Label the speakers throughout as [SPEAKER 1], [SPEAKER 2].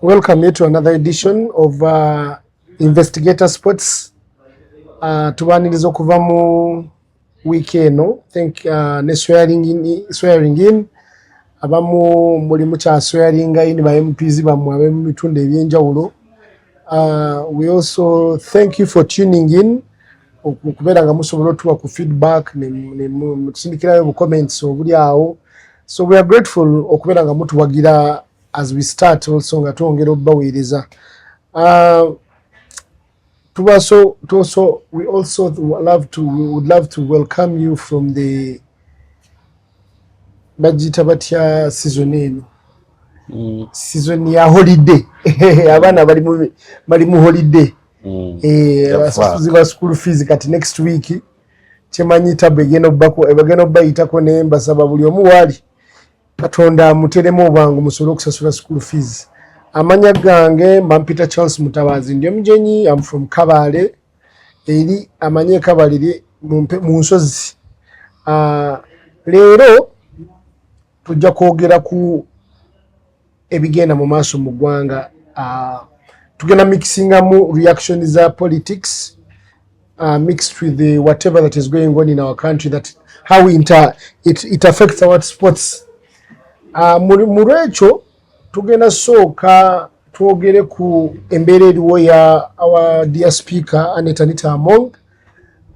[SPEAKER 1] Welcome you to another edition of uh, Investigator Sports. Uh, tubaniriza okuva mu week eno think uh, ne swearing in, swearing in. abamu muli mukya swearing in ba MPs bamwe abe mu bitundu ebyenjawulo uh, we also thank you for tuning in okubeera nga musobola otuwa ku feedback nemutusindikirayo bu comments obuli awo so we are grateful okubeera nga mutuwagira as we start also nga twongera obubaweereza uh, tuba so also we also love to we would love to welcome you from the bagiyita batya season eno mm. season ya holiday abaana bali mu holiday mm. eh, ba school fees kati next week kyemanyi tabu egenda obbako ebagenda obbayitako naye mbasaba buli omu waali katonda amuteremu obwangu musobole okusasula school fees amanya gange mbampita charles mutabazi ndi omugenyi am from kabale eri amanye ekabale eri mu nsozi ah, leero tujja kwogera ku ebigenda mu maaso mu ggwanga uh, tugenda mixingamu reaction za politics uh, mixed with the whatever that is going on in our country that how inter, it, it affects our sports uh, mu lwekyo tugenda sooka twogere ku embeera eriwo ya our dear speaker aneta nita among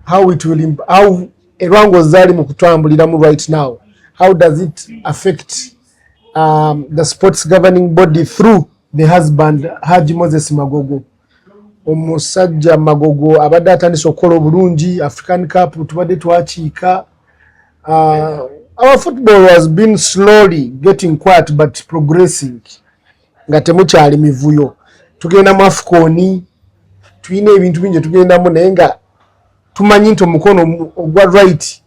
[SPEAKER 1] how it will how erwango zali mu kutambulira mu right now how does it affect um, the sports governing body through the husband Haji Moses Magogo omusajja Magogo abadde atandise okukola obulungi African Cup tubadde twakiika uh, our football has been slowly getting quiet but progressing nga temukyali mivuyo tugenda mu afukoni tulina ebintu bingi tugendamu naye nga tumanyi nti omukono ogwa right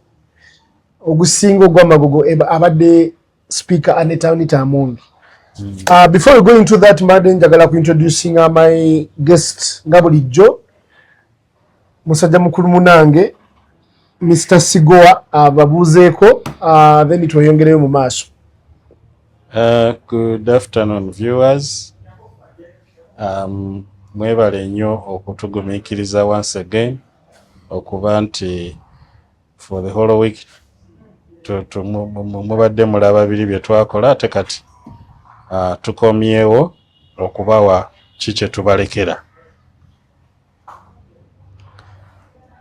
[SPEAKER 1] ogusinga ogwamagogo abadde speaker anetawnita amongi hmm. uh, before we go into that made njagala kuintroducinga my guest nga bulijjo musajja mukulu munange Mr Sigoa ababuuzeeko uh, uh, then tweyongereyo mu maaso uh,
[SPEAKER 2] good afternoon viewers um, mwebale nnyo okutugumiikiriza once again okuba nti for the whole week mubadde mulaba biri bye twakola ate kati uh, tukomyewo okubawa ki kye tubalekera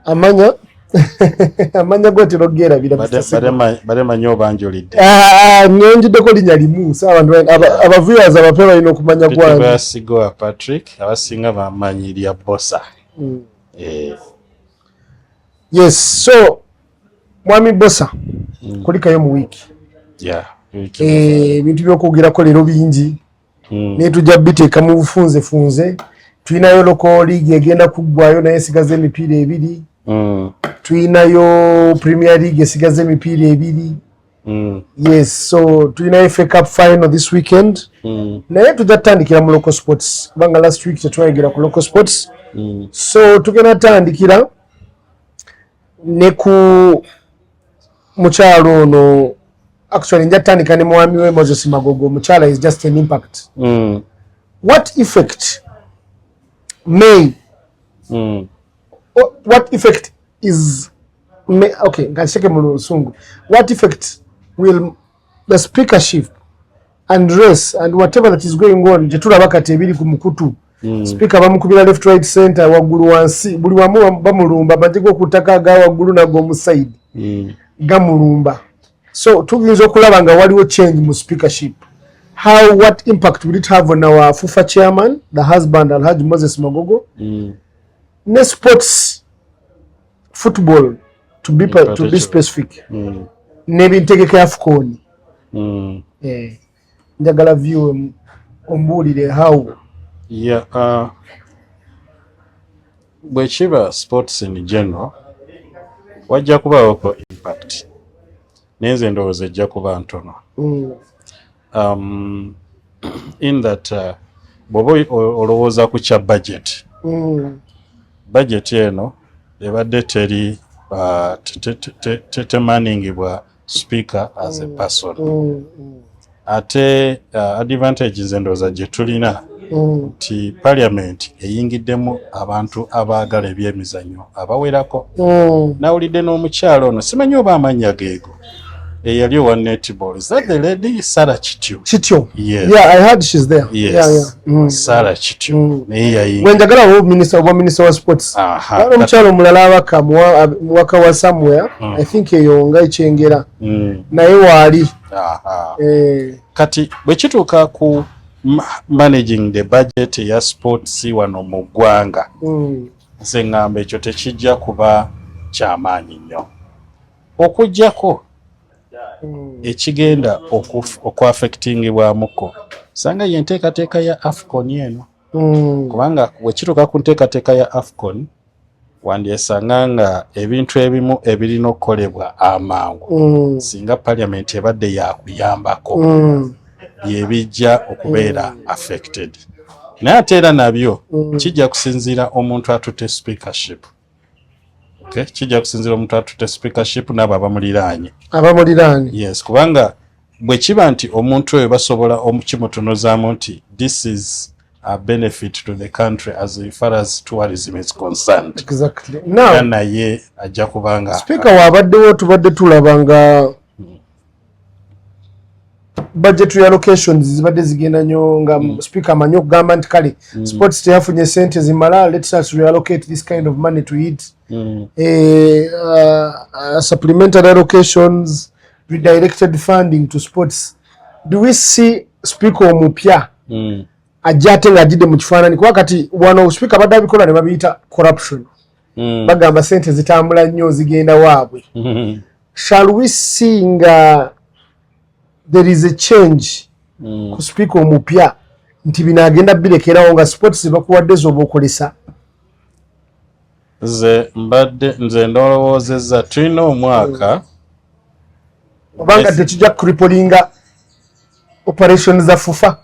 [SPEAKER 1] amanya amanya go tirogera bira bare
[SPEAKER 2] manyo banjolide ah nyenji doko
[SPEAKER 1] linya limu sawa ndo abavuya za bapera ino kumanya kwa kwa sigo wa patrick
[SPEAKER 2] abasinga ba manyi ya bossa mm. eh
[SPEAKER 1] yes so mwami bossa mm. kulika yo mu wiki yeah
[SPEAKER 2] eh
[SPEAKER 1] bintu byo kugira ko lero binji hmm. naye tujja biteeka mu bufunze funze tulinayo local league egenda kuggwayo naye esigaza emipiira ebiri hmm. tulinayo premier league esigaza emipiira ebiri Mm. Yes, so tulina FA Cup final this weekend. Mm. Naye tujja tutandikira mu local sports kubanga last week tetwayigira ku local sports. Mm. So tugenda tutandikira ne ku mukyalo ono actually nja tandika ne mwami we moses magogo mukyala is just an impact mm. what effect may mm. what effect is may, okay ngaseke mu lusungu what effect will the speakership and race and whatever that is going on gyetulaba kati ebiri ku mukutu mm. speaker bamukubira left right center waggulu wansi buli wamu bamulumba amagye gokutaka aga waggulu nago omusaidi mm. gamulumba so tuyinza okulaba nga waliwo change mu speakership how what impact will it have on our fufa chairman the husband alhaj moses magogo mm. ne sports football to be, mm, to be specific mm. nebintegeka yafukoni mm. eh, njagala view ombuulire how yeah, uh,
[SPEAKER 2] bwekiba sports in general wajja kubaawoko impact naye nze ndowooza ejja kuba ntono mm. um, in that uh, bwoba olowooza ku kya budget mm. budget eno ebadde teri uh, temaningibwa speaker as a mm. person ate uh, advantage nze ndooza gye tulina mm. nti mm. parliament eyingiddemu abantu abaagala ebyemizanyo abawerako mm. nawulidde n'omukyalo ono simanyi oba amannya geego eyali eh, owa netball is that the lady sara kityo kityo yes. yeah,
[SPEAKER 1] i heard
[SPEAKER 2] she's there yes. yeah,
[SPEAKER 1] yeah. Mm.
[SPEAKER 2] sara kityo mm. naye yayi wenjagala wo minister oba
[SPEAKER 1] minister wa sports wali omukyalo omulala abaka mwaka wa somewhere mm. i think eyo nga ekyengera mm. naye waali eh. kati bwe kituuka
[SPEAKER 2] ku managing the budget ya sports wano mu ggwanga mm. nze ŋŋamba ekyo tekijja kuba kyamaanyi nnyo okugyako mm. ekigenda okuafektingibwamuko sanga yenteekateeka ya afcon eno mm. kubanga wekituuka ku nteekateeka ya afcon wandyesanga nga ebintu ebimu ebirina okukolebwa amangu mm. singa paliamenti ebadde yakuyambako mm. byebijja okubeera mm. affected naye ate era nabyo mm. kijja kusinziira omuntu atute speakership okay kijja kusinzira omuntu atute speakership n'abo abamuliraanye abamuliraanye yes kubanga bwe kiba nti omuntu oyo basobola omukimutunuzaamu nti this is a benefit to the country as far as tourism is concerned exactly now
[SPEAKER 1] naye ajja
[SPEAKER 2] kubanga speaker wabaddewo
[SPEAKER 1] tubadde tulaba nga budget reallocations zibadde zigenda nyo nga mm. speaker amanyi okugamba nti kale mm. sports teyafunye sente zimala lets us reallocate this kind of money to it mm. eh, uh, uh, supplementary allocations redirected funding to sports do we see speaker omupya mm. ajja ate nga ajidde mu kifaananyi kuba kati wano speaker abadde abikola ne babiyita corruption mm. bagamba sente zitambula nnyo zigenda waabwe mm-hmm. shall we see nga there is a change mm. ku speaker omupya nti bino agenda birekerawo nga sports bakuwadde zoba okolesa nze
[SPEAKER 2] mbadde nze ndolowoozezza tulina omwaka
[SPEAKER 1] mm. obanga tekijja kucripolinga operation za fufa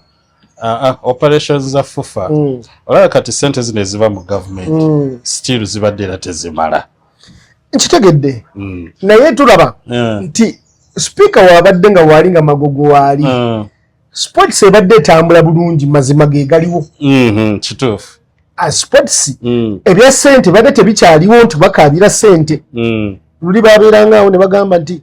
[SPEAKER 1] Ah, ah,
[SPEAKER 2] operations za fufa mm. olaba kati sente zino eziva mu government mm. still zibadde era tezimala nkitegedde
[SPEAKER 1] mm. naye tulaba yeah. nti speaker wabadde nga waali nga magogo waali mm. sports ebadde etambula bulungi mazima ge galiwo mm -hmm. kituufu
[SPEAKER 2] ah, sports
[SPEAKER 1] mm. ebya sente badde tebikyaliwo nti bakabira sente mm. luli babeerangawo ne bagamba nti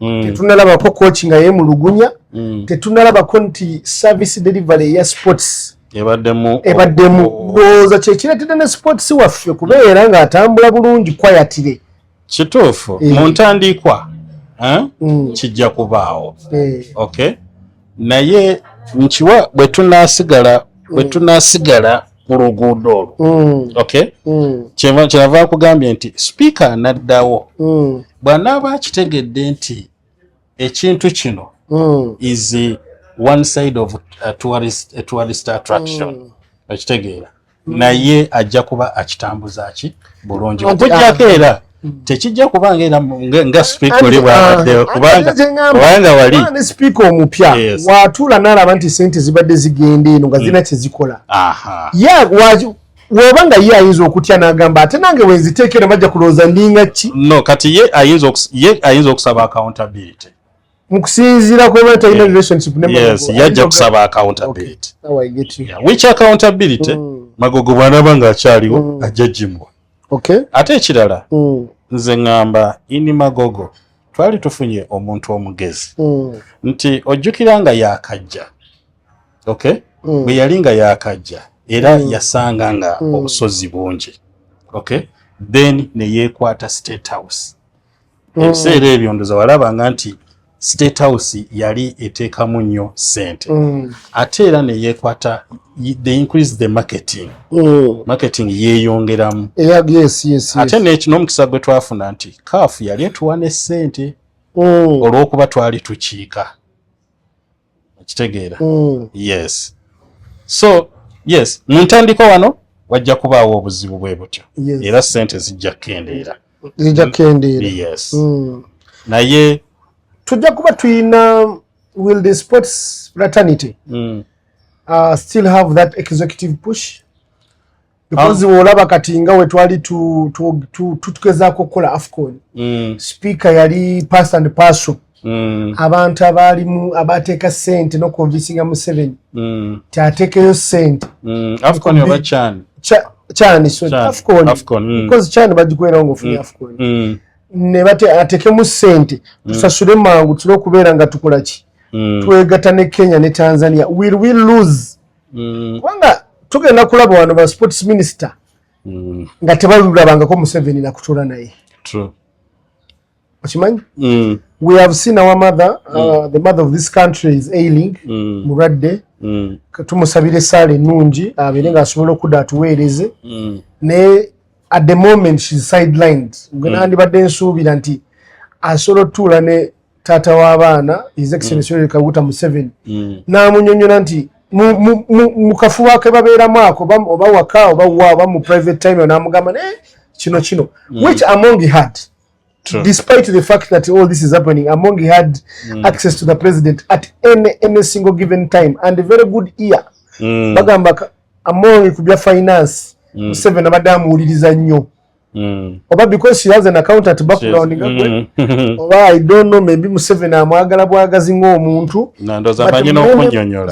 [SPEAKER 1] mm. tetunalabako koki nga yemulugunya mm. tetunalabako nti service delivery ya sports ebaddemu ebaddemu ndowooza kyekiretedde ne sports waffe kubeera ng'atambula bulungi kwayatire kituufu
[SPEAKER 2] eh. mu ntandiikwa eh, mm. kijja kubaawo eh. okay naye nkiwa bwe tunasigala bwe tunasigala ku luguudo olwo mm. okay mm. kyerava akugambye nti sipiika anaddawo mm. bw'anaaba akitegedde nti ekintu kino is one side of a tourist, a tourist attraction okitegeera naye ajja kuba akitambuza ki bulungi okujjako era tekijja kuba nga era nga speaker oli bwabadde uh, kubanga kubanga wali ne speaker omupya
[SPEAKER 1] watula nalaba nti sente zibadde zigenda eno nga mm. zina kye zikola aha ya waji woba nga ye ayinza okutya nagamba ate nange wenziteekera bajja kulowooza ndinga ki no kati ye ayinza
[SPEAKER 2] ye ayinza okusaba accountability mukusinzira
[SPEAKER 1] kuba talina eh, relationship ne yes yajja kusaba
[SPEAKER 2] accountability okay.
[SPEAKER 1] which accountability
[SPEAKER 2] mm. magogo bwanaba nga akyaliwo mm. ajja jimwa okay. ate ekirala mm. nze ngamba ini magogo twali tufunye omuntu omugezi mm. nti ojjukira nga yakajja okay? mm. bwe yali nga yakajja era mm. yasanga nga mm. obusozi bungi okay? then neyekwata state house mm. ebiseera ebyo ndoza walabanga nti state house yali eteekamu nnyo sente mm. ate era neyekwata they increase the marketing mm. marketing yeyongeramu yeah, yes, yes, ate yes. nekino omukisa gwe twafuna nti kaafu yali etuwa ne sente mm. olwokuba twali tukiika okitegeera mm. yes so yes mu ntandikwa wano wajja kubaawo obuzibu bwe butyo yes. era sente zijja kukendeera zijja kukendeera yes mm. naye tujja
[SPEAKER 1] kuba tulina will the sports fraternity mm. uh, still have that executive push because um, olaba kati nga wetwali tutugezaako okukola afcon mm. speaker yali pass and paso mm. abantu abaalimu abateeka sente nokuconvinsinga museveni mm. tyateekeyo sente mm. afcon oba
[SPEAKER 2] chan chani so afcon,
[SPEAKER 1] afcon. Mm. because chani bagikwerawo ngaofunye mm. afcon mm. nebate atekemu sente mm. tusasule mangu tule okubeera nga tukola ki mm. twegata ne kenya ne tanzania will we lose mm. kubanga tugenda kulaba wano ba sports minister mm. nga tebalulabangako museveni nakutula naye okimanyi mm. we have seen our mother uh, mm. uh, the mother of this country is ailing mm. mulwadde mm. tumusabira esaala ennungi abeere mm. nga asobola okudda atuweereze mm. naye at the moment shes sidelined mm. nandibadde nsuubira nti asobola otutuula ne taata w'abaana his excellence mm. kaguta museveni mm. n'amunyonyola nti mu kafuba ke babeeramu ako oba waka oba wa oba mu private time n'amugamba naye kino kino mm. which among had True. despite the fact that all this is happening among had mm. access to the president at any, any single given time and a very good ear mm. bagamba among ku bya finance mm. museveni abadde amuwuliriza nnyo Mm. oba because she has an accountant background nga gwe mm. oba i don't know maybe museven amwagala bwagazi ng'omuntu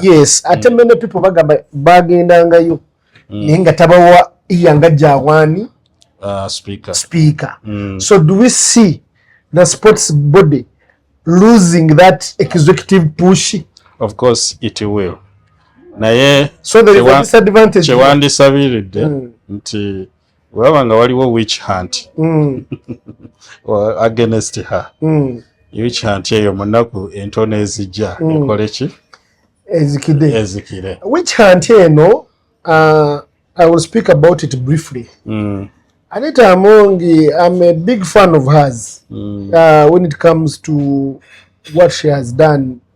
[SPEAKER 1] yes ate mm. many people bagamba bagendangayo mm. naye nga tabawa iya nga jawaani uh, speaker, speaker. Mm. so do we see the sports body losing that executive push of course
[SPEAKER 2] it will naye so
[SPEAKER 1] kyewandisabiridde
[SPEAKER 2] mm. nti webaba nga waliwo witch hunt mm. against her mm. witch hunt eyo munaku entono ezijja mm. ekole ki ezikide ezikire witch hunt eno
[SPEAKER 1] uh, i will speak about it briefly mm. anita amongi i'm a big fan of hers mm. uh, when it comes to what she has done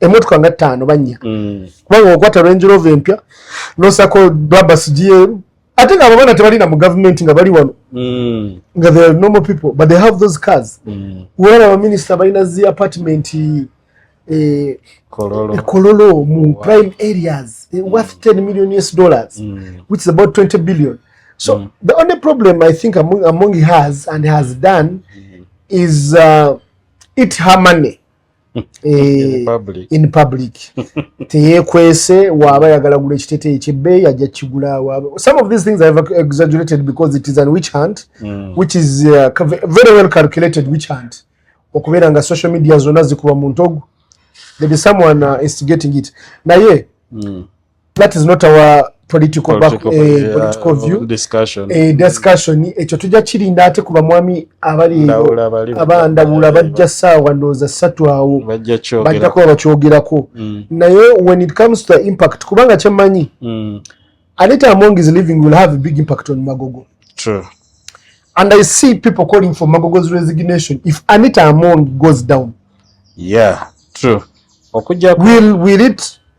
[SPEAKER 1] emotoka nga ttaano bannya mm. kubanga okwata range rover empya nosako brabus gm ate nga ababaana tebalina mu gavumenti nga bali wano mm. nga they are normal people but they have those cars mm. wera baminisita balina zi apartment eh, kololo eh, mu prime areas eh, worth 10 million us dollars which is about 20 billion so the only problem i think among, among he has and has done is uh, it her money eh, in public teyekwese waaba yagala gula ekitete ekyebbeeyi ajja kigula some of these things have exaggerated because it is an witch hunt mm. which is uh, very well calculated witch hunt okubeera nga social media zonna zikuba mu ntogo there is someone uh, instigating it naye mm. that is not our political back eh, political view discussion eh, discussion ekyo tujja kirinda ate kuba mwami abali abandabula bajja saawa ndoza satu awo bajja kyo bajja ko bakyogerako mm. naye when it comes to the impact kubanga kye manyi mm. anita among is living will have a big impact on magogo true
[SPEAKER 2] and i
[SPEAKER 1] see people calling for magogo's resignation if anita among goes down yeah
[SPEAKER 2] true okujja will
[SPEAKER 1] will it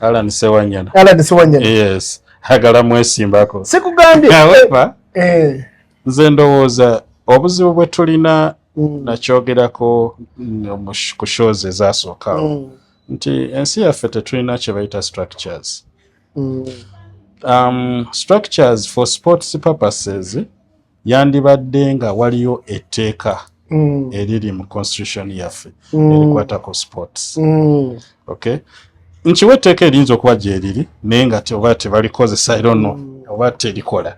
[SPEAKER 2] Alan Sewanyana. Alan Sewanyana. Yes. Agala mwesimbako. Sikugambye. However,
[SPEAKER 1] eh.
[SPEAKER 2] Nze ndowooza obuzibu bwe tulina mm. nakyogerako mm, ku shows ezasookawo mm. nti ensi yaffe tetulina kye bayita structures. Mm. Um, structures for sports purposes yandibadde nga waliyo etteeka mm. eriri mu constitution yaffe mm. erikwata ku sports mm. okay nkiwa etteeka eriyinza okuba gyeriri naye nga oba tebalikozesa era ono mm. oba terikola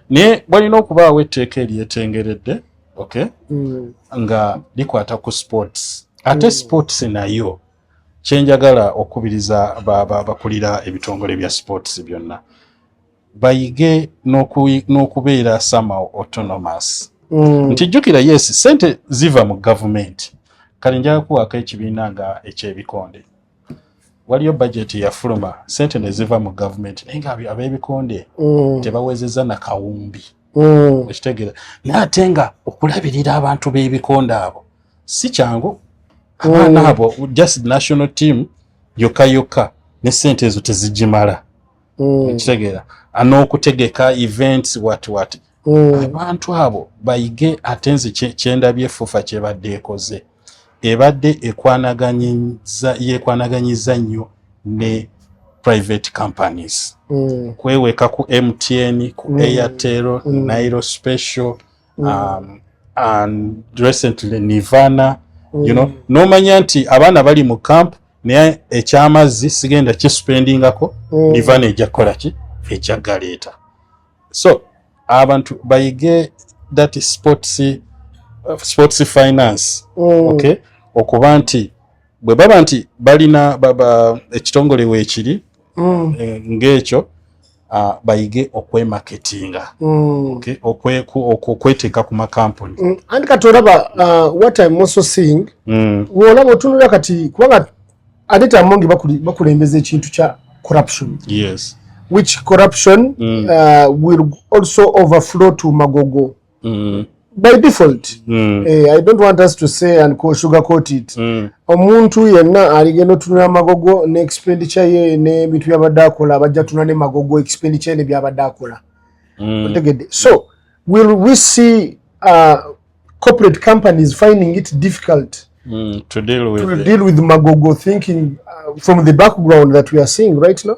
[SPEAKER 2] naye walina okubaawo etteeka eryetengeredde okay mm. nga likwata ku sports ate mm. sports nayo kyenjagala okukubiriza bakulira ebitongole bya sports byonna bayige n'okubeera somehow autonomous Mm. nti jjukira yes sente ziva mu gavumenti kale njaga kuwaako ekibiina nga ekyebikonde waliyo bajeti yafuluma sente neziva mu gavumenti naye nga abebikonde mm. tebawezeza nakawumbi mm. ekitegera naye ate nga okulabirira abantu bebikonde abo si kyangu abaana abo just national team yokka yokka ne sente ezo tezigimala mm. okitegeera n'okutegeka events wat wat mm. abantu abo bayige ate nze kyendabye efufa kyebadde ekoze ebadde yekwanaganyiza nnyo ne private companies mm. kweweka ku mtn ku mm. airtel mm. nairo special mm. um, and recently nivana mm. you know nomanya nti abaana bali mu camp naye ekyamazzi sigenda kispendingako mm. nivana ejja kukola ki ejja galeeta so abantu bayige that sports uh, sports finance mm. okay okuba nti bwe baba nti balina ekitongole weekiri mm. eh, ng'ekyo uh, bayige okwemaketinga mm. okay? okweteeka ku makampuni mm. andi kati olaba
[SPEAKER 1] uh, what im also seeing mm. olaba otunula kati kubanga adeta amongi bakulembeza ekintu kya corruption yes.
[SPEAKER 2] which corruption
[SPEAKER 1] mm. uh, will also overflow to magogo mm. by default mm. eh, i don't want us to say and call sugar coat it mm. omuntu yenna aligenda otunula amagogo ne expenditure ye ne bintu byabadde akola bajja tunula ne magogo expenditure ne byabadde akola mm. otegedde so will we see uh, corporate companies finding it difficult mm, to deal
[SPEAKER 2] with, to deal with magogo
[SPEAKER 1] thinking uh, from the background that we are seeing right now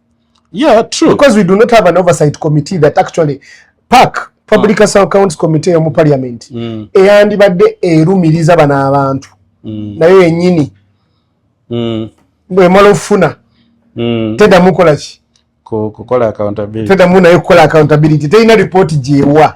[SPEAKER 1] Yeah, true.
[SPEAKER 2] Because we do not have an
[SPEAKER 1] oversight committee that actually pack public mm. accounts committee yomu parliament mm. eyandibadde erumiriza bano abantu mm. nayo yenyini mm. bwemala ofuna mm. tedamu kolaki
[SPEAKER 2] tedamu naye kukola
[SPEAKER 1] accountability terina report gyewa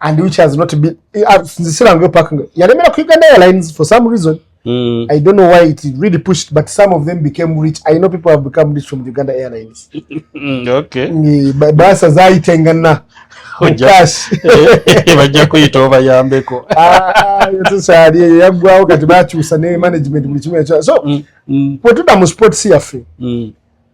[SPEAKER 1] and which has not been uh, nzisira ngo parking yalemera ku Uganda Airlines for some reason mm. I don't know why it really pushed but some of them became rich I know people have become rich from the Uganda Airlines mm, okay
[SPEAKER 2] ni basa
[SPEAKER 1] zaitengana cash
[SPEAKER 2] bajja kuyita obayambeko ah,
[SPEAKER 1] tusaali eyo yaggwawo kati bakyusa ne management buli kimu ekyo so mm, mm. bwe tudda mu sports yaffe mm.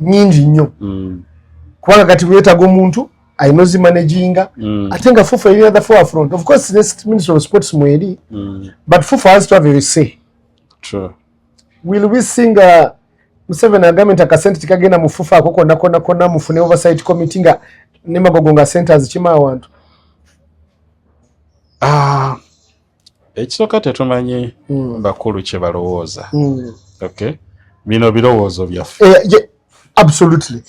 [SPEAKER 2] nyingi nnyo mm.
[SPEAKER 1] kubanga kati bwetaga omuntu ayina ozimanaginga mm. ate nga fufa eri other four front of course this minister of sports mweri mm. but fufa has to have a say True.
[SPEAKER 2] will we
[SPEAKER 1] sing a museveni agambye nti akasente tikagenda mu fufa ako konna konna konna mufune oversight committee nga ne magogo nga sente azikima awantu ah.
[SPEAKER 2] ekisooka tetumanyi hmm. bakulu kye balowooza hmm. okay bino birowoozo byaffe eh, absolutely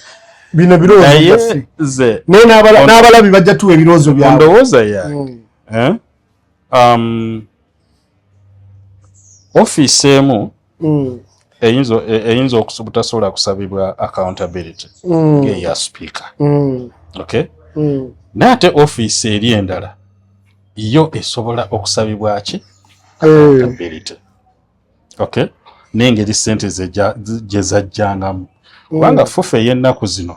[SPEAKER 1] bino birowoozo byaffe naye n'abalabi bajja tuwa ebirowoozo byabwe ndowooza yange
[SPEAKER 2] hmm. eh? um, ofiisi emu mm. eyinza eyinza okutasobola kusabibwa accountability mm. eya speaker mm. okay mm. naye ate ofiisi eri endala yo esobola okusabibwa ki accountability eh. okay n'engeri sente gye zajjangamu mm. kubanga fufa ey'ennaku zino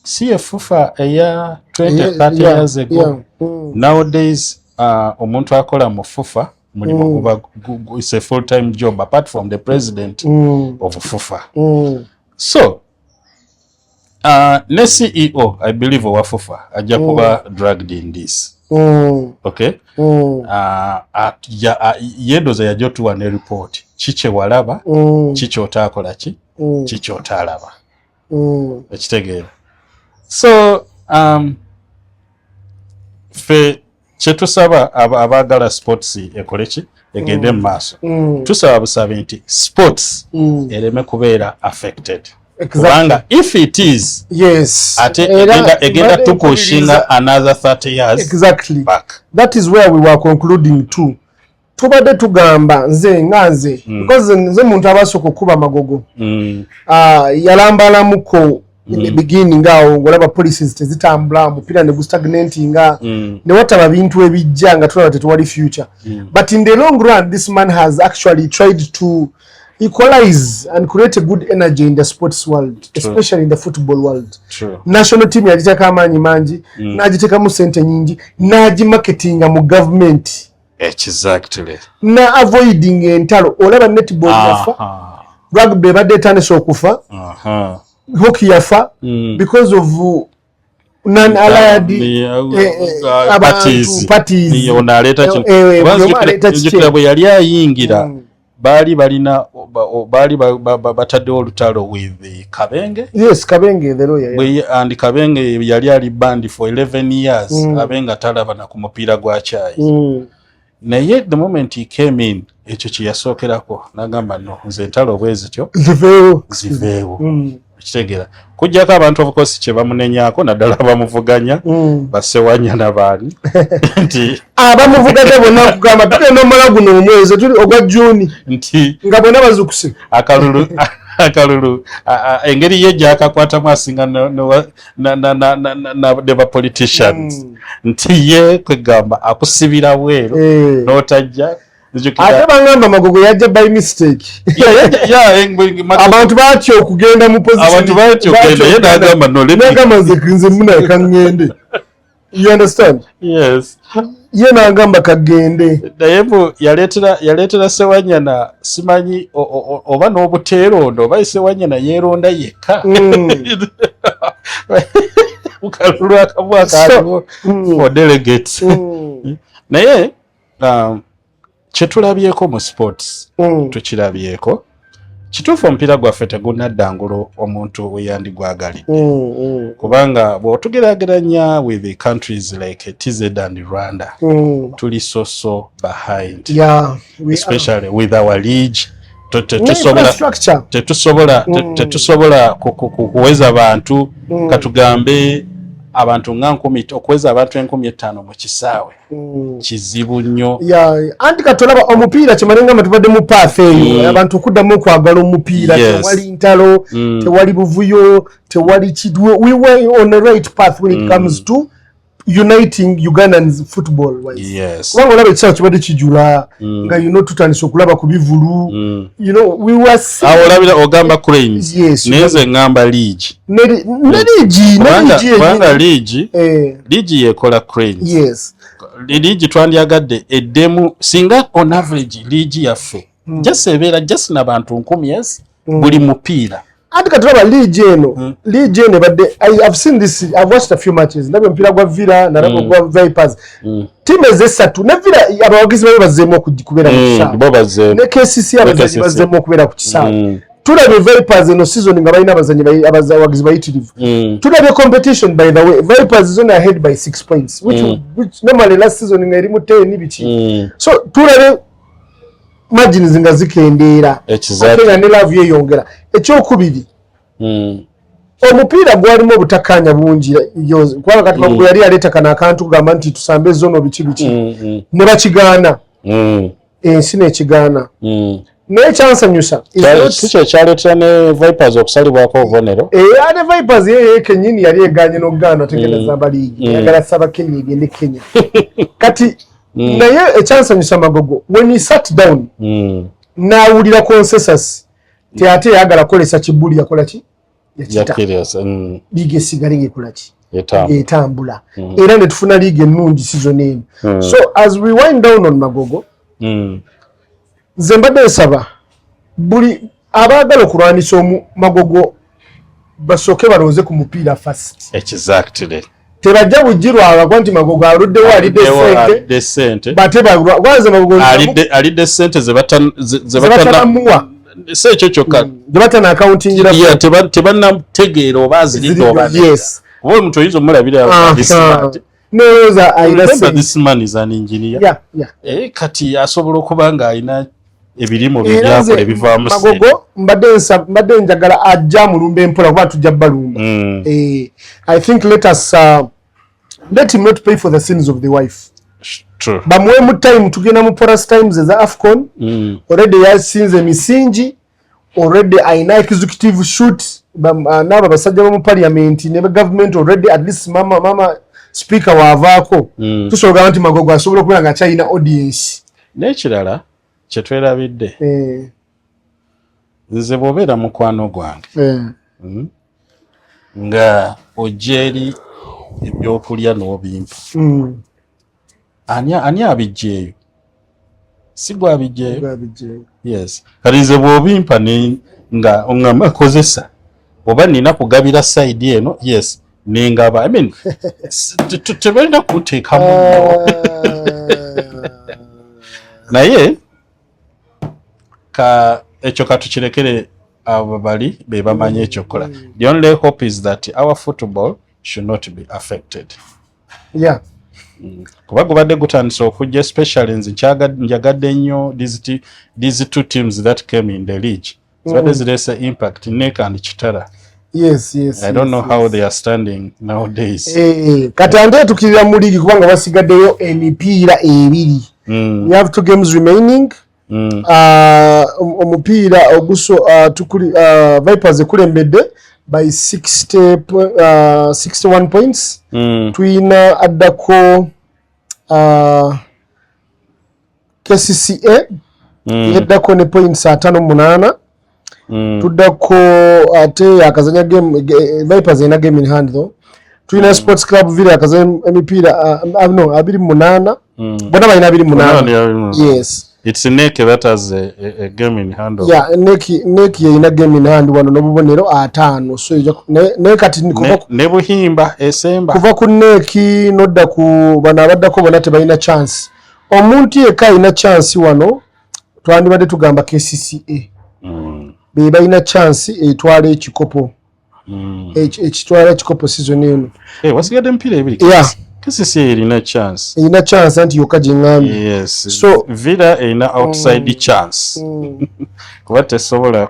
[SPEAKER 2] si ye fufa eya 20 30 years ago mm. nowadays uh, omuntu akola mu fufa mulimu mm. guba it's a full time job apart from the president mm. of fufa mm. so uh, ne ceo i believe owa fufa ajja mm. kuba mm. dragged in this mm. okay mm. uh, uh, ya, uh, yedoza yajja otuwa ne report kikyewalaba mm. kikyotaakola ki mm. kikyotaalaba mm. ekitegeera so um, fe kyetusaba abaagala sports ekole ki egende mu mm. maaso mm. tusaba busabi nti sports mm. ereme kubeera affected kubanga if it is yes ate
[SPEAKER 1] egenda
[SPEAKER 2] egenda tukushinga another 30 years exactly back that is where we
[SPEAKER 1] were concluding to tubadde tugamba nze nga nze mm. because nze muntu abasooka okukuba amagogo mm. ah, yalambalamuko in the mm. beginning awo ngolaba policies tezitambula omupiira ne gustagnatinga mm. ne wataba bintu ebijja nga tulaba tetuwali future mm. but in the long run this man has actually tried to equalize and create a good energy in the sports world True. especially in the football world True. national team
[SPEAKER 2] yagiteeka
[SPEAKER 1] amaanyi mangi mm. n'agiteekamu sente nyingi n'agimarketinga mu government exactly
[SPEAKER 2] na
[SPEAKER 1] avoiding entalo olaba netball yafa rugby ebadde etandise okufa hockey yafa mm. because of non allied abantu parties yona
[SPEAKER 2] aleta kino bwe yali ayingira mm. baali balina baali bataddewo olutalo with kabenge yes kabenge
[SPEAKER 1] the lawyer yeah. and kabenge
[SPEAKER 2] yali ali bandi for 11 years mm. abe nga talaba na ku mupiira gwa kyayi mm. naye the moment he came in ekyo kyeyasookerako nagamba no nze entalo bwezityo ziveewo ziveewo mm. kitegera kujjako abantu obukosi kyebamunenyako naddala abamuvuganya mm. basewanya nabaani nti abamuvuganya
[SPEAKER 1] bonna kugamba tugenda omala guno omwezi tuli ogwa juni nti nga bonna
[SPEAKER 2] bazukuse
[SPEAKER 1] akalulu
[SPEAKER 2] akalulu engeri ye gyakakwatamu asinga ne bapoliticians mm. nti ye kwegamba akusibira bweru eh. notajja ate
[SPEAKER 1] bangamba magogo yajja by mistake abantu batya okugenda mu positionagamba nze
[SPEAKER 2] munaye
[SPEAKER 1] kangende
[SPEAKER 2] you understand yes
[SPEAKER 1] ye nagamba kagende naye mu
[SPEAKER 2] yaletera yaletera sewanyana simanyi oba n'obuteerondo oba sewanyana yeeronda yekka mm. kalulu akamu akaliwo for delegates mm. naye um, kyetulabyeko mu sports mm. tukirabyeko kituufu omupiira gwaffe tegunadda ngulu omuntu weyandigwagali mm, mm. kubanga bwotugerageranya with countries like tz and rwanda mm. tuli soso behind yeah, especially are. with our league tetusobola mm. tetusobola kuweza bantu mm. katugambe abantu nga nkumi okuweza abantu enkumi ettaano mu kisaawe Mm. kizibu nnyo anti kati olaba
[SPEAKER 1] omupiira kimalinga nga tubadde mu paafa eyo mm. abantu okuddamu okwagala omupiira tewali ntalo mm. tewali buvuyo tewali we were on the right path when it comes to uniting ugandans football kubanga olaba ekisawa kibadde kijula nga you know tutandise okulaba ku bivulu you know we were awo olabira ogamba
[SPEAKER 2] cranes naye nze ngamba leagi ne leagi ne leagi kubanga leagi eh. liigi yekola cranes yes. liigi twandyagadde eddemu singa on average liigi yaffe mm. just ebeera just nabantu nkumi yes mm. buli mupiira anti katulaba
[SPEAKER 1] liigi eno hmm. liigi eno ebadde ihave seen this ihave watched a few matches ndabye omupiira gwa villa nalaba hmm. ogwa vipers hmm. tiimu ezesatu ne villa abawagizi babe bazzeemu okukubeera mu kisaawe ne kcc abazazi bazzeemu okubeera ku kisaawe tulabye vipers eno season nga balina abazanyi abazawagizi bayitirivu mm. tulabye competition by the way vipers zone ahead by six points which, mm. which normally last season nga erimu ten biki mm. so tulabye margins nga zikendeera ate nga ne love yeyongera ekyokubiri mm. omupiira gwalimu obutakanya bungi kubanga kati mm. yali yaleeta kano akantu kugamba nti tusambe zone biki biki mm, mm. ne bakigaana mm. ensi nekigaana mm. naye kyansanyusa kikyo kyaleetera
[SPEAKER 2] ne vipers okusalibwako obubonero eh, ate vipers
[SPEAKER 1] yeye kenyini yali eganye n'okugaana tegenda mm. zamba liigi mm. yagala saba kenya egende kenya kati mm. naye ekyansanyusa magogo when he sat down mm. n'awulira consensus ti ate yagala kukolesa kibuli yakola ki mm. liigi esigale ngekolaki etambula mm. era netufuna liigi ennungi sizoni eno mm. so as we wind down on magogo nze mbadde nsaba buli abaagala okulwanisa omu magogo basooke balowooze ku mupiira fast exactly.
[SPEAKER 2] tebajja bujji
[SPEAKER 1] lwabagwa nti magogo aluddewo alidde sente batebalidde sente
[SPEAKER 2] zebatanamuwa si ekyo kyokka mm.
[SPEAKER 1] tebatanaakawuntingiratebannategeera
[SPEAKER 2] oba aziride oba kuba omuntu oyinza omulabira kati asobola okuba nga alina ebirimo byebyakula ebivaamu magogo mbadde
[SPEAKER 1] nsab mbadde njagala ajja mulumba empola kuba tujja balumba mm. eh, i think let us uh, let him not pay for the sins of the wife bamuwemu time tugenda mu porous times eza afcon mm. already yasinze emisingi already ayina executive shoot uh, naba basajja mu parliament ne government already at least mama mama speaker wavako mm. tusoga anti magogo asobola kuba nga china audience nekirala
[SPEAKER 2] kyetwerabidde eh. nze bwobeera mukwano gwange eh. mm. nga ojeri ebyokulya nobimpa mm. ani ani abijjeeyo sigwa abijjeeyo yes kati nze bw'obimpa nga ngamba kozesa oba nina kugabira sayidi eno yes nengaba i mean tebalina kuteekamu ah. naye ka ekyo katukirekere abo bali be bamanyi ekyokukola mm. the only hope is that our football should not be affected yeah kuba gubadde gutandise okujja especially nze njagadde nnyo these two teams that came in the league zibadde mm. zireese impact nek and kitara Yes, yes, I
[SPEAKER 1] don't yes, know how yes.
[SPEAKER 2] they are standing nowadays. Eh, eh, eh. kati ante
[SPEAKER 1] tukirira mu ligi kubanga basigaddeyo emipiira ebiri. Mm. We have two games remaining. mm. ah, um, omupiira oguso ah, tukuli ah, vipers ekulembedde by 61 points mm. tuyina addako kcca mm. yeddako ne points atano munaana mm. tuddako ate akazanya game vipers erina game in hand though tulina mm. sports club villa akazanya emipiira uh, uh, no abiri munaana mm. bona balina abiri munaana yes It's Nick that
[SPEAKER 2] has a, a, a game in hand. Yeah, Nick
[SPEAKER 1] Nick yeyina game in hand wano nobubonero atano. So yija ne, ne kati kuva ne buhimba
[SPEAKER 2] esemba. Kuva ku Nick
[SPEAKER 1] nodda ku bana abadda ko bona tebalina chance. Omuntu yeka ina chance wano twandibadde tugamba kcca mm. be balina chansi etwala ekikopo mm. ekitwala ekikopo sizoni eno eh, wasigadde emipiira
[SPEAKER 2] ebiri kcca erina chansi erina chansi anti yokka
[SPEAKER 1] gyengambye so
[SPEAKER 2] villa erina outside mm. chance kuba tesobola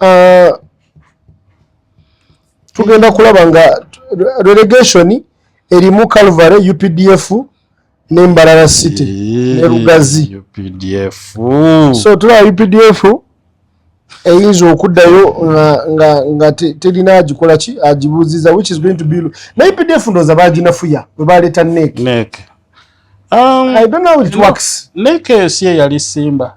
[SPEAKER 1] uh, tugenda kulaba nga relegation erimu calvary updf nembarara city ne lugazi
[SPEAKER 2] so tulaba
[SPEAKER 1] updf eyinza okuddayo nga terina agikola ki agibuuziza which is going to be naye pdf ndooza baginafuya bwe baleeta nek nek um, si eyali
[SPEAKER 2] simba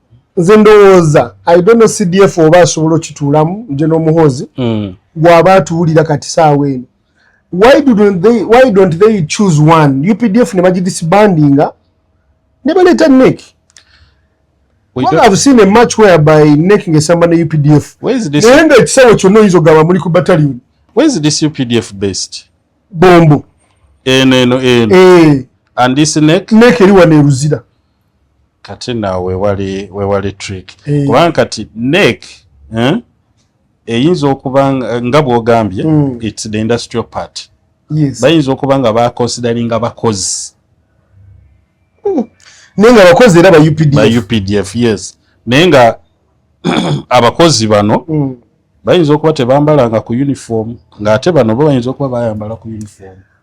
[SPEAKER 1] nze ndowooza i don't know cdf oba asobola okituulamu nje n'omuhoozi mm. bw'aba atuwulira kati saawa eno why don't they, why don't they choose one updf ne bagidisbandinga ne baleeta nek match whereby nek ngesamba ne updf naye nga ekisawo kyonna oyinza ogamba muli ku battalion
[SPEAKER 2] bombo
[SPEAKER 1] eno eno
[SPEAKER 2] eno eh. and this nek nek eri wano eruzira
[SPEAKER 1] kati
[SPEAKER 2] nawe wewali wewali trick eh. kubanga kati nek eh, eyinza okuba nga bwogambye mm. its the industrial party yes. bayinza okuba nga bakonsideringa bakozi mm.
[SPEAKER 1] naye nga abakozi era ba updf, ba UPDF yes
[SPEAKER 2] naye nga abakozi bano mm. bayinza okuba tebambalanga ku uniform ng'ate bano bo bayinza okuba bayambala ku uniform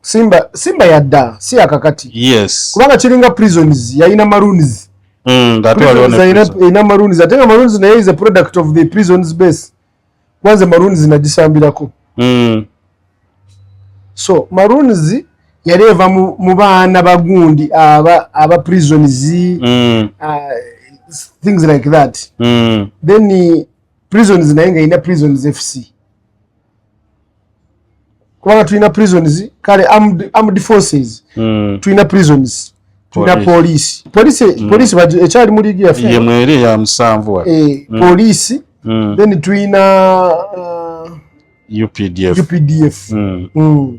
[SPEAKER 2] Simba Simba
[SPEAKER 1] yadda si akakati. Yes. Kubanga kiringa
[SPEAKER 2] prisons
[SPEAKER 1] yayina maroons. Mm, that one on prison. Ina maroons. I think maroons naye is a product of the prisons base. Kwanza maroons zinajisambirako. Mm. So maroons yali eva mu, mu baana bagundi aba aba prisons. Mm. Uh, things like that. Mm. Then prisons naye nga ina prisons FC. kubanga tulina prisons kale armed, armed forces mm. tulina prisons tulina police police mm. police baji ekyali mu ligi yafe ye mwere ya musanvu
[SPEAKER 2] wa eh, mm. police
[SPEAKER 1] mm. then tulina uh, UPDF
[SPEAKER 2] UPDF mm. Mm.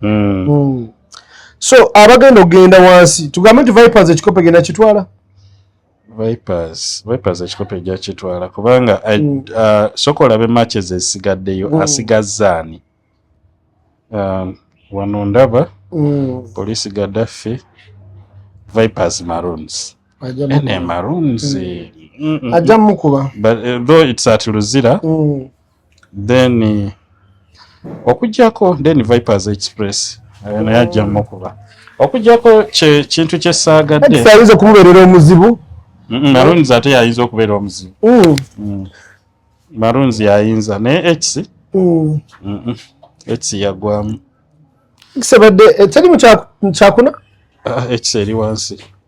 [SPEAKER 1] mm. Mm. so abagenda okugenda wansi tugambe nti vipers ekikopo egenda kitwala
[SPEAKER 2] vipers vipers ekikopo ejja kitwala kubanga eh, mm. uh, soka olabe matches ezisigaddeyo mm. asigazzaani um, wano ndaba mm. polisi gadaffi vipers maroons ene maroons mm. mm, mm, ajja mukuba
[SPEAKER 1] but uh,
[SPEAKER 2] though it's at luzira mm. then eh, okujjako then vipers express eh, naye ajja mukuba okujjako kintu kyesaagadde ayinza okumubeerera
[SPEAKER 1] omuzibu marunzi
[SPEAKER 2] ate yayinza okubeera omuzibu mm. mm. marunzi yayinza naye eki mm. eki yagwamu kisabadde
[SPEAKER 1] eh, teri mukyakuna eki ah,
[SPEAKER 2] eri wansi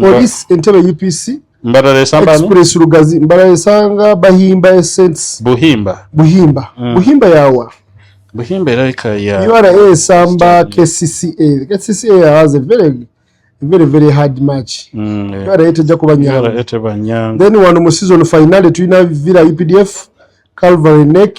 [SPEAKER 1] police entebe UPC e mbarara esamba
[SPEAKER 2] express rugazi mbarara
[SPEAKER 1] esanga bahimba essence buhimba buhimba mm. buhimba yawa buhimba erika
[SPEAKER 2] ya you are a samba
[SPEAKER 1] KCCA KCCA has a very very very hard match mm, yeah. you are ete jakuba nyanga you ete banyanga then one mu season finale tuina villa UPDF e Calvary Neck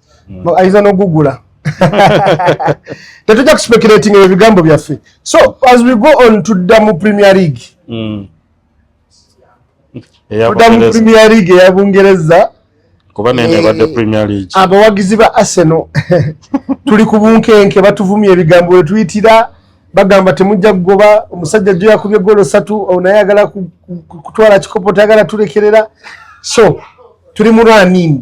[SPEAKER 1] mm. ayinza nogugula tetujja kuspeculating ebyo bigambo byaffe so as we go on tudda mu premier league mm. tudda mu premier league eya bungereza kuba nene
[SPEAKER 2] ebadde eh, premier league abawagizi ba arsenal
[SPEAKER 1] tuli ku bunkenke batuvumya ebigambo wetuyitira bagamba temujja kugoba omusajja jo yakubye golo satu naye agala kutwala kikopo tayagala tulekerera so tuli mu running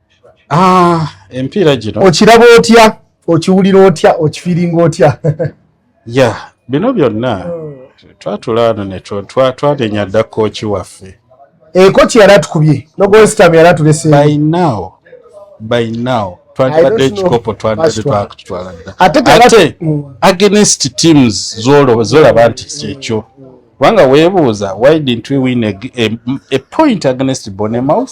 [SPEAKER 1] Ah, empiira gino okiraba otya okiwulira otya okifiringa otya ya bino byonna hmm. twatula ano netwanenya dda kooki waffe eko eh, kyeyali atukubye nogwesitamu yali atulesebayinawo bayinawo twandibadde ekikopo twandibadde twakitwala dda ate hmm. against teams zolaba nti kyekyo kubanga webuuza why didn't we win a, a, a point against bonemouth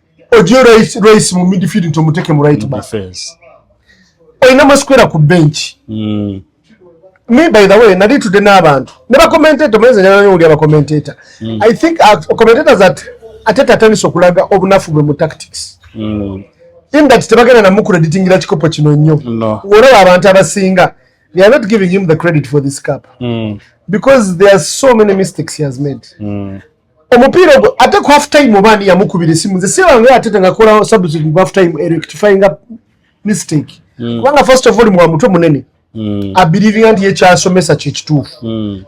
[SPEAKER 1] oje race race mu midfield nto muteke mu right back defense oyina masquera ku bench mm. me by the way nali tude n'abantu ne ba commentator mwenze nyana nyuli aba commentator mm. i think uh, commentators that ateta atandise okulaga obunafu bwe mu tactics mm. in that tebagenda namu creditingira kikopo kino nnyo no. olaba abantu abasinga they are not giving him the credit for this cup mm. because there are so many mistakes he has made mm. omupiira ogwo ate ku half time oba ani yamukubira esimu nze sibangayo ate tengakola substitute mu half time erectifying up mistake hmm. kubanga first of all mwa mutwe munene hmm. abelieving nti yekyasomesa kyekituufu hmm.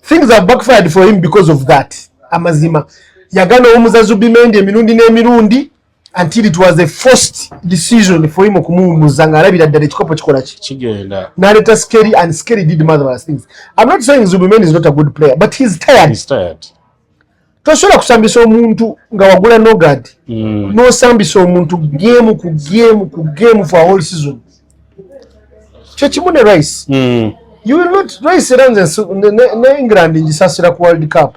[SPEAKER 1] things have backfired for him because of that amazima yagana omuzazi ubimendi emirundi n'emirundi until it was a forced decision for him okumuwumuza nga alabira ddala ekikopo kikola ki kigenda naleta scary and scary did marvelous things i'm not saying zubimen is not a good player but he's tired, he's tired. tosobola kusambisa omuntu nga wagula nogad mm. nosambisa omuntu game ku game ku game for whole season kyekimu ne rice mm. you will not rice era nze ne england ngisasira ku world cup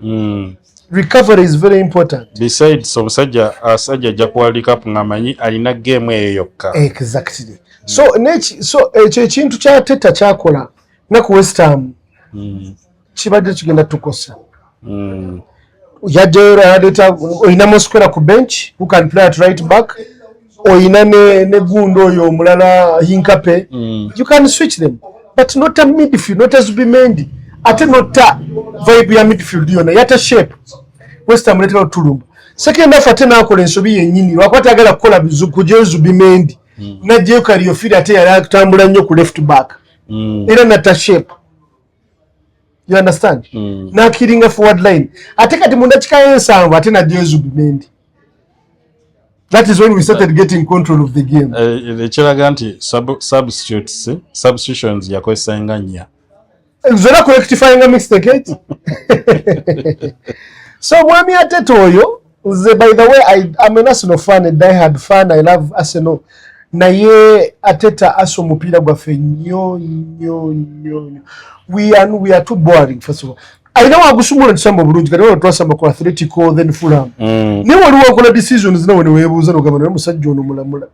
[SPEAKER 1] mm. recovery is very important besides omusajja asajja ajja kuwalika up ngamanyi alina game eyo yokka exactly so neki so ekyo ekintu kya teta kyakola naku west ham mm. kibadde kigenda tukosa mm. yajjayo era yaleeta olinamu osukera ku bench who can play at right back oyina ne ne gundo oyo omulala hinkape mm. you can switch them but not a midfield not as be mendi ate not a vibe ya midfield yona yata shape west ham letera tulumba second half ate nakola ensobi yenyini wakwata agala kola bizuku jezu be mendi mm. na jeo kali ofira ate yara tambula nyo ku left back mm. era nata shape you understand mm. nakiringa forward line ate kati mundakika yensanvu ate najjayo zubimendi that is when we started uh, getting control of the game eh, ekiraga nti
[SPEAKER 2] substitutes substitutions yakozesa nga nnya eh, zona
[SPEAKER 1] kurectifyinga mistake eki so mwami atete oyo nze by the way I, I'm an Arsenal fan a diehard fan I love Arsenal naye ateta asa omupiira gwaffe nyo nyo nyo we are, we are too boring first of all alina wagusumula tusamba obulungi kati wano twasamba ku athletico then fulam mm. naye waliwo wakola decisions nawe newebuuza nogamba naye musajja ono mulamula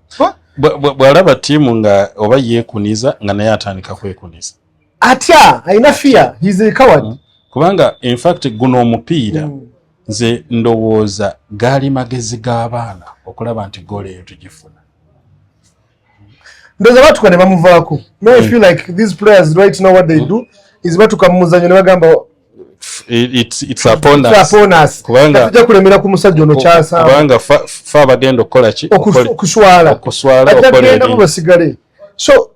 [SPEAKER 1] bwalaba
[SPEAKER 2] tiimu nga oba yekuniza nga naye atandika kwekuniza atya
[SPEAKER 1] alina fear he's a coward mm. kubanga infact
[SPEAKER 2] guno omupiira mm. nze ndowooza gaali magezi g'abaana okulaba nti goolo eyo tugifuna
[SPEAKER 1] ndoza batuka ne bamuvaako no i feel like these players right now what they do is batuka mu muzanyo ne bagamba
[SPEAKER 2] tujja kulemera
[SPEAKER 1] ku musajja ono kyasakubanga fa
[SPEAKER 2] bagenda okukola ki okuswala
[SPEAKER 1] okuswala okugenda
[SPEAKER 2] mu basigale
[SPEAKER 1] so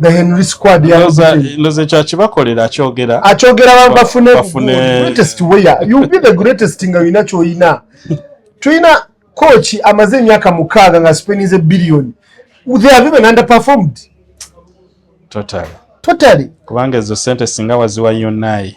[SPEAKER 1] the Henry squad ya loza loza cha
[SPEAKER 2] kibakolera akyogera akyogera bafune
[SPEAKER 1] bafune greatest where you be the greatest nga wina choina tuina coach amaze myaka mukaga nga Spain is a billion they have even underperformed totally totally kubanga ezo sente
[SPEAKER 2] singa waziwa yonai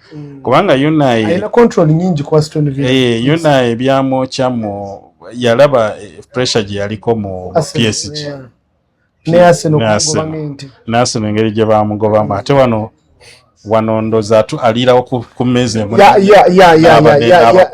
[SPEAKER 2] mm. kubanga yonaye
[SPEAKER 1] eh, yonaye byamwokya
[SPEAKER 2] mu yalaba eh, pressure gye yaliko mu psg
[SPEAKER 1] naasino engeri gye
[SPEAKER 2] bamugobamu ate wano wano ndoza tu alirawo ku mmeeza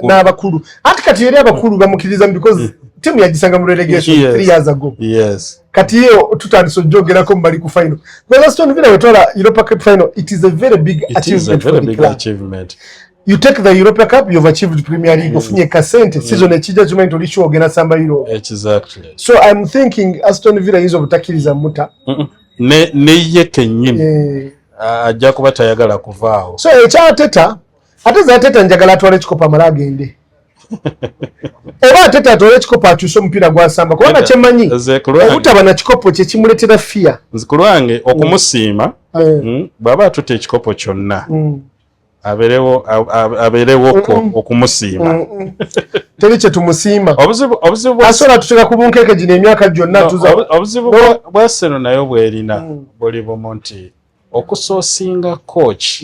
[SPEAKER 1] n'abakulu anti kati yeri abakulu bamukiriza because mm. timu yagisanga mu relegation three years ago yes kati
[SPEAKER 2] yo tutandise
[SPEAKER 1] ojogerako mubali ku final because aston villa wetwala europa cup final it is a very big it achievement for the club achievement. you take the europa cup you've achieved premier league mm. ofunye kasente mm. season ekija kimanyi toli sure ogenda samba euro exactly. so
[SPEAKER 2] i'm thinking
[SPEAKER 1] aston villa yinza obutakiriza muta mm -mm. ne, ne
[SPEAKER 2] ye kenyini yeah. ajja kuba tayagala kuvaawo so ekyateta
[SPEAKER 1] ate zateta njagala atwala ekikopo amala agende oba ateta atwala ekikopo akyuse omupiira gwasamba kubanga kyemanyi obutaba na kikopo kyekimuletera fiya nzikulwange
[SPEAKER 2] okumusiima mm. Eh. Mm, bwaba atuta ekikopo kyonna mm. aberewo aberewo ko mm. okumusiima mm, mm. teri
[SPEAKER 1] kye tumusiima obuzibu obuzibu asola
[SPEAKER 2] tuteka ku
[SPEAKER 1] bunkeke gino emyaka gyonna tuza obuzibu bwa
[SPEAKER 2] seno nayo bwerina buli bumu nti okusoosinga coach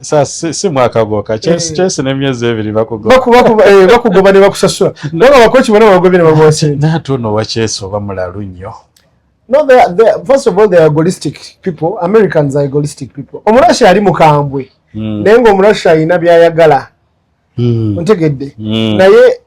[SPEAKER 1] sa si, si
[SPEAKER 2] mwaka gwoka chelsea eh. chelsea ne myezi ebiri bakugoba bakuba kuba eh bakugoba
[SPEAKER 1] ne bakusasula nanga bakochi bona bagobe ne babose na to no wa chelsea
[SPEAKER 2] oba mulalu nyo no they are,
[SPEAKER 1] they are, first of all they are egoistic people americans are egoistic people omurashi ali mukambwe mm. nengo omurashi ina byayagala mm. ntegedde mm. naye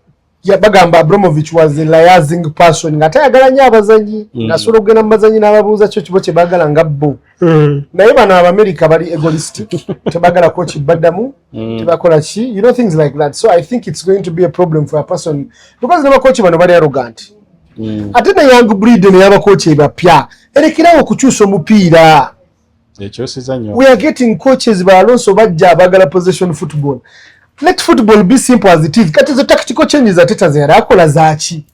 [SPEAKER 1] bagamba Abramovich was a liaising person nga tayagala nnyo abazanyi mm. nasobola okugenda mu bazanyi n'ababuuza kyo kibo kye baagala nga bo mm. naye bano abamerica bali egolistic tebagala ko kibaddamu mm. tebakola ki you know things like that so i think it's going to be a problem for a person because nebakoki bano bali arrogant ate ne young breed neyabakoki ebapya erekerawo okukyusa omupiira we are getting coaches ba alonso bajja abagala possession football let football be simple as it is kati zo tactical changes ateta zeyali akola zaki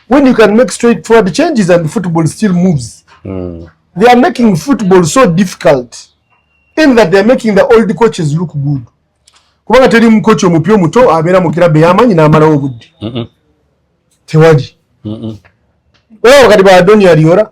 [SPEAKER 1] when you can make straight forward changes and football still moves mm. they are making football so difficult in that they are making the old coaches look good kubanga teri mukoci omupya omuto abeera mu kirabe yamanyi namalawo obudde tewali oba wakati ba adoni aliora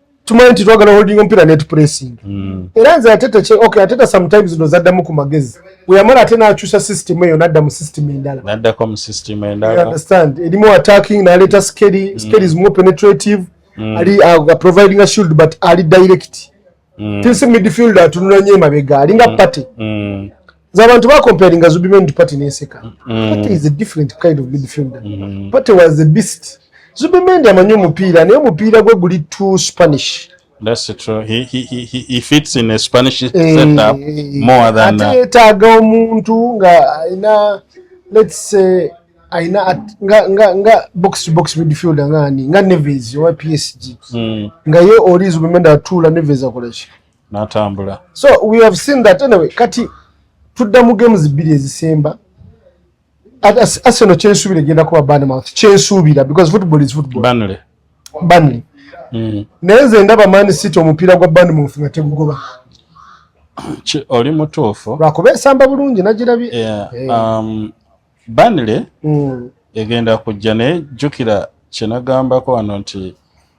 [SPEAKER 1] tumanyi nti twagala holding omupiira net pressing mm. era nze ateta kye ok ateta sometimes no zaddamu ku magezi weyamala ate n'akyusa system eyo n'adda mu system endala n'addako mu system endala understand erimu attacking n'aleeta skeri mm. skeri is more penetrative mm. ali uh, providing a shield but ali direct mm. tinsi midfield atunula nyo emabega alinga mm. party mm. nze abantu bacomparinga zubimendi to party nenseka mm. party is a different kind of midfielder mm. party was a beast zubimendi amanyi omupiira naye omupiira gwe guli to spanish yetaaga omuntu nga alina lets say alina nga box to box midfielder ngaani nga neves owa psg mm. nga ye oli zubimendi atuula neves akolaki natambula so we have seen that anyway kati tudda mu games bbiri ezisemba arsenal kyensuubira egenda kuba banmouth kyensuubira because football is football banly banly mm. naye nze ndaba man city omupiira gwa banmouth nga tegugoba oli mutuufu lwakuba esamba bulungi nagirabye yeah, eh. um, banile mm. egenda kujja naye jjukira kyenagambako wano nti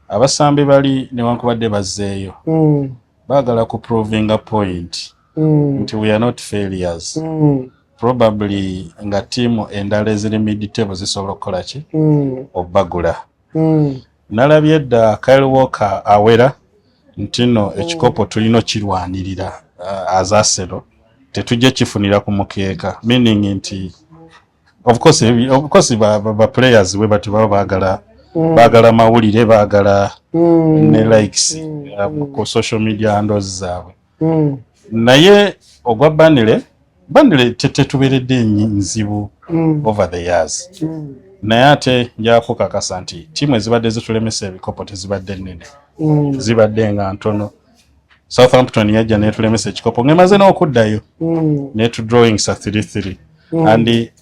[SPEAKER 1] abasambi bali newankubadde bazzeeyo mm. baagala ku provinga point mm. nti we are not failures mm. probably nga tiimu endala eziri mid table zisobola okukola ki mm. obagula mm. nalabye dda Kyle Walker awera ntino mm. ekikopo tulina okirwanirira uh, azasero tetujja kifunira ku mukeeka meaning nti of course, of course ba, ba, ba players we bati baba bagala mm. bagala mawulire bagala mm. ne likes mm. uh, ku social media handles zaabwe mm. naye ogwa banile banile tetuberedde nzibu mm. over the years mm. naye ate njakukakasa nti tiimu ezibadde zitulemesa ebikopo tezibadde nene mm. zibadde nga ntono southampton yajja netulemesa ekikopo ngemaze n'okuddayo mm. netudrawingsa 33 mm. and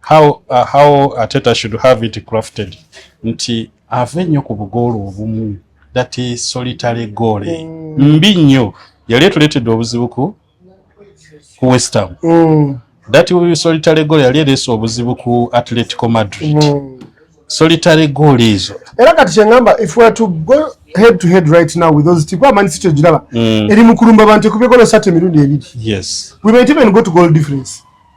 [SPEAKER 2] how, uh, how ateta should have it crafted nti ave nnyo ku bugoolo obumu that is solitary goal mm. mbi nnyo yali etuleetedde obuzibu ku ku westham mm. that solitary goal yali ereesa obuzibu ku atletico madrid mm. solitary goal ezo era kati kyengamba
[SPEAKER 1] if weare to go head to head right now with those tipu amanyi sikyo giraba mm. eri mukulumba bantu ekubekola satu emirundi ebiri yes we might
[SPEAKER 2] even go to goal
[SPEAKER 1] difference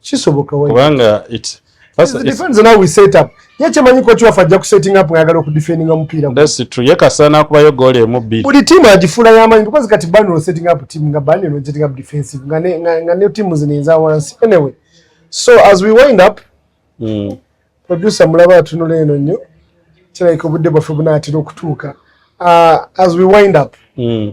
[SPEAKER 1] kisoboka kubanga it
[SPEAKER 2] That's, it depends on how
[SPEAKER 1] we set up ye kyemanyi ko kiwafu ajja ku setting up ngayagala okudefendinga omupiira that's true ye kasana
[SPEAKER 2] akubayo goal emu bbiri buli tiimu agifuula
[SPEAKER 1] yamanyi because kati bani no setting up team nga bani no setting up defensive nga ne nga ne tiimu zino eza wansi anyway so as we wind up mm. producer mulaba atunula eno nnyo kirabika obudde bwaffe bunaatera okutuuka uh, as we wind up mm.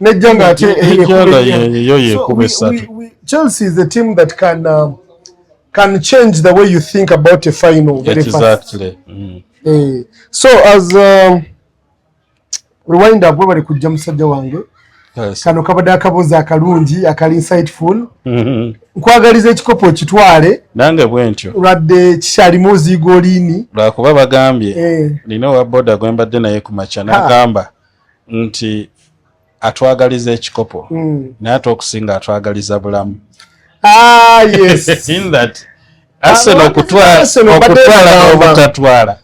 [SPEAKER 1] nejja nga ate Chelsea is a team that can um, can change the way you think about a final very exactly. fast. Mm. Eh,
[SPEAKER 2] so as
[SPEAKER 1] um, rewind up webali kujja musajja wange yes. kano
[SPEAKER 2] kabadde akabuuzi
[SPEAKER 1] akalungi akali insightful mm -hmm. nkwagaliza ekikopo okitwale nange bwentyo
[SPEAKER 2] lwadde kikyalimu
[SPEAKER 1] oziiga oliini lwakuba bagambye
[SPEAKER 2] eh. nina owa boda gwembadde naye ku makya nagamba nti atwagaliza ekikopo mm. naye ate okusinga atwagaliza bulamu ah, aseno okutwala obutatwala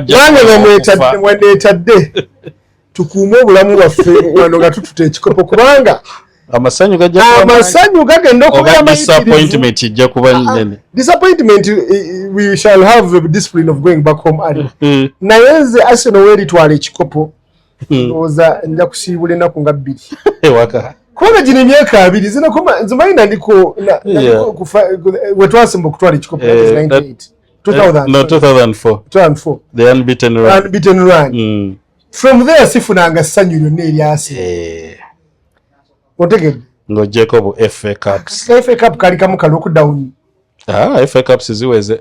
[SPEAKER 2] nange
[SPEAKER 1] wenetadde tukuume obulamu bwaffe wano nga tututa ekikopo kubanga amasanyu
[SPEAKER 2] amasanyu
[SPEAKER 1] gagenda okubaappointment ejja
[SPEAKER 2] kuba ah, ah. nene disappointment eh,
[SPEAKER 1] eh, we shall have discipline of going back home early mm-hmm. naye nze arsenal weritwala ekikopo hmm. ndowooza nja kusiibula ennaku nga bbiri ewaka kubanga gino emyaka abiri nzimanyi nandiko wetwasimba okutwala ekikopo
[SPEAKER 2] from there
[SPEAKER 1] sifunanga ssanyu lyonna eryasi eh. otegedde ng'ogyeko
[SPEAKER 2] bu fa cups fa cup kali kamu
[SPEAKER 1] kali okudawuni ah, fa
[SPEAKER 2] cups ziweze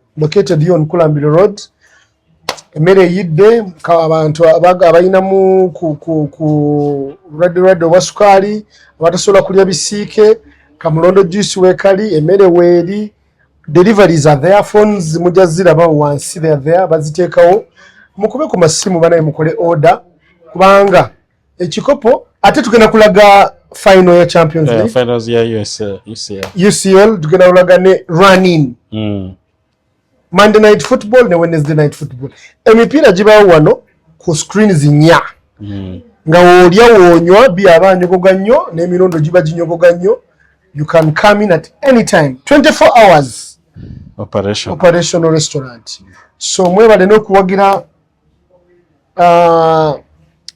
[SPEAKER 1] located here on Kulambiro Road emmere eyidde abantu abayinamu ku red red oba sukaali abatasobola kulya bisiike kamulondo juice wekali emmere weeri deliveries are there phones mujja ziraba wansi there there baziteekawo mukube ku masimu banaye mukole order kubanga ekikopo ate tugenda kulaga final ya champions yeah, finals ya UCL,
[SPEAKER 2] UCL. UCL
[SPEAKER 1] tugenda kulaga ne running mm. monday night football ne wednesday night football emipiira gibawo wano ku screens nya mm. nga woolya woonywa byaba nyogoga nnyo n'emirundo giba ginyogoga nnyo you can come in at any time 24 hours operation. operational restaurant so mwebale n'okuwagira uh,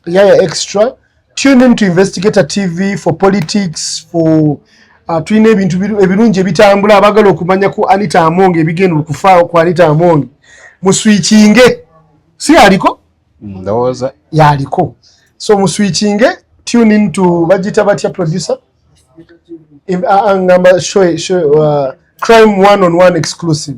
[SPEAKER 1] yaya extra tune in to investigator tv for politics for uh, tulina ebintu ebirungi ebitambula abagala okumanya ku anita amonge ebigenda okufaawo ku anita amonge muswikinge si yaliko ndowooza
[SPEAKER 2] yaliko
[SPEAKER 1] so muswikinge tune in to bagita batya producer ngamba uh, uh, crime one on one exclusive